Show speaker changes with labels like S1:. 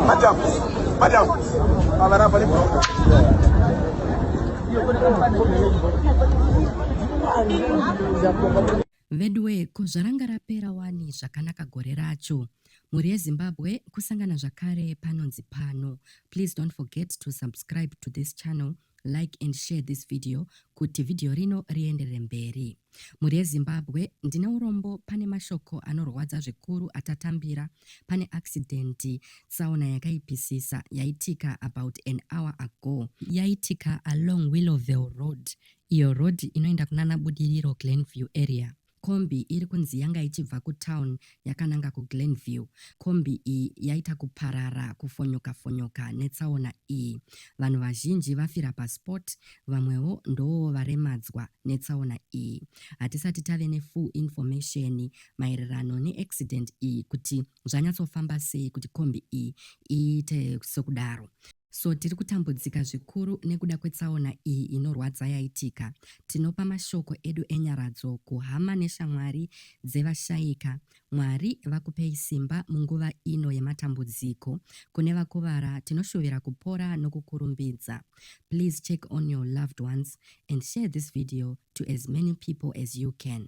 S1: Madam, madam, avará para veduwe ko zvaranga rapera wani zvakanaka gore racho mhuri yezimbabwe kusangana zvakare panonzi pano please don't forget to subscribe to this channel Like and share this video kuti video rino rienderere mberi. Mhuri yeZimbabwe, ndine urombo pane mashoko anorwadza zvikuru atatambira pane accident tsaona yakaipisisa yaitika about an hour ago. Yaitika along Willowvale Road, iyo road inoenda kunana Budiriro Glenview area. Kombi iri kunzi yanga ichibva kutown yakananga kuGlenview. Kombi iyi yaita kuparara kufonyoka fonyoka netsaona iyi. Vanhu vazhinji vafira paspot, vamwewo ndowo varemadzwa netsaona iyi. Hatisati tave nefull information maererano neaccident iyi kuti zvanyatsofamba sei kuti kombi iyi iite sokudaro. So tiri kutambudzika zvikuru nekuda kwetsaona iyi inorwadza yaitika. Tinopa mashoko edu enyaradzo kuhama neshamwari dzevashaika. Mwari vakupei simba munguva ino yematambudziko. Kune vakuvara tinoshuvira kupora nokukurumbidza. Please check on your loved ones and share this video to as many people as you can.